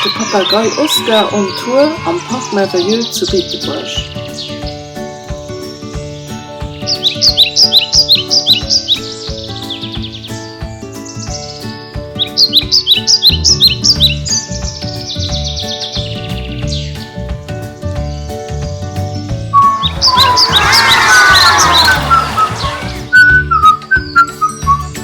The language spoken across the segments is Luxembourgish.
De Papagei Oscar on Tour am Parc Merveilleux zu Beetebuerg.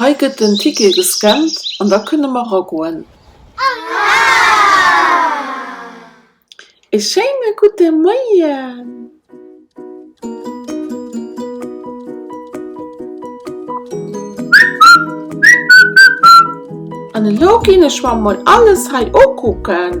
Hei gëtt den Ticket gescannt an da kënne mer ragoen. E schéine gudde Moien! An elo ginn ech mer mol alles hei ukucken.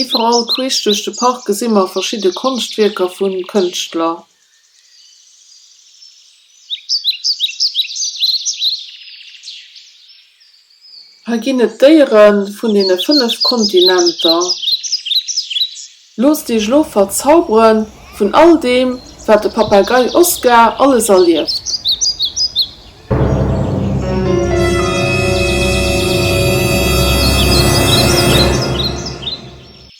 Iwwerall queesch duerch de Park gesi mer verschidde Konschtwierker vu Kënschtler. Hei ginn et Déiere vun deene fënnef Kontinenter. Loosst Iech elo verzaubere vun all deem, wat de Papagei Oskar alles erlieft.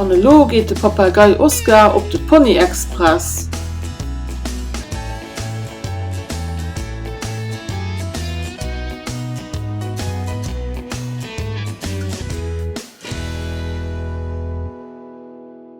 An elo geet de Papagei Oscar op de Pony Express.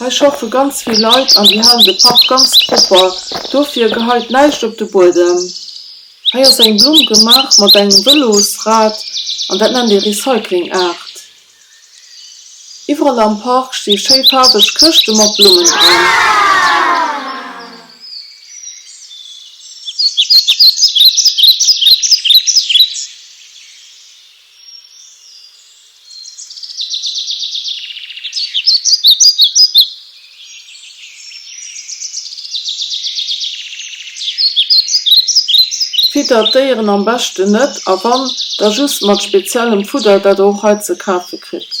Hei schaffe ganz vill Leit an déi halen de Park ganz propper, dofir geheit näischt op de Buedem. Hei ass eng Blumm gemaach mat engem Vëlosrad an dat nennt ee Recycling-Art. Iwwerall am Park sti schéi faarweg Këschte mat Blummen dran. Fiddert d'Déieren am beschten net a wann, da just mat speziellem Fudder, dat der och hei ze kafe kritt.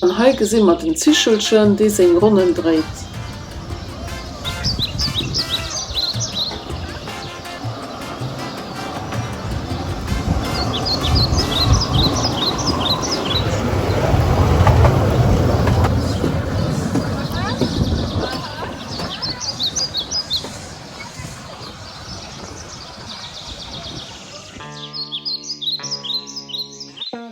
An hei gesi mer den Zichelchen, dee seng Ronnen dréit.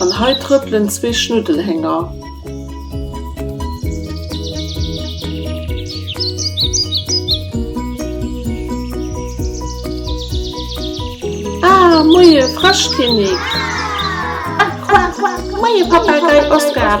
An hei trëppelen zwee Schnuddelhénger. Ah, moie Fräschkinnek! Moie Papagei Oskar!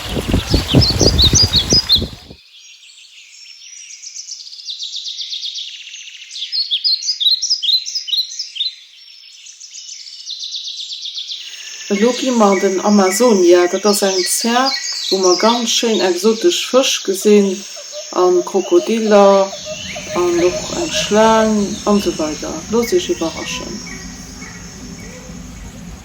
Elo gi mer an den Amazonia. Dat ass eng Zär, wou mer ganz schéin exotesch Fësch gesinn, a Krokodiller an och eng Schlaang an esou weider. Loosst Iech iwwerraschen.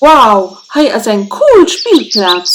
Wow, hei ass eng cool Spillplaz!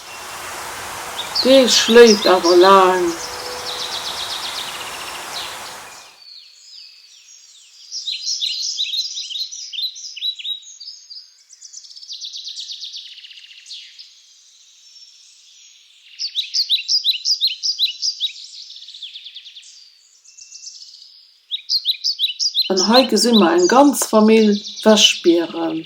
Dee schléit awer laang. An hei gesi mer eng ganz Famill Wäschbieren.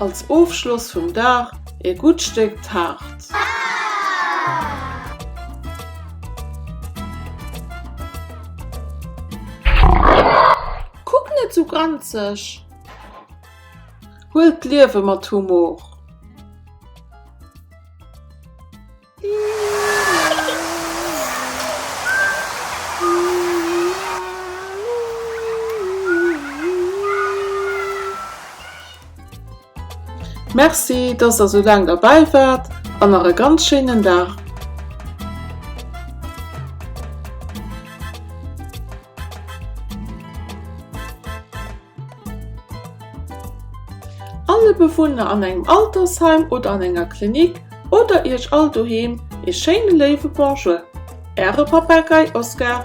Als Ofschloss vum Dag ee gutt Stéck Taart. Kuck net sou granzeg! Huel d'Liewe mat Humor! Merci dass der sou laang derbäi waart an nach e ganz schéinen Dag! Alle Bewunner an engem Altersheim oder an enger Klinik oder Iech all doheem ee schéine léiwe Bonjour. Äre Papagei Oscar.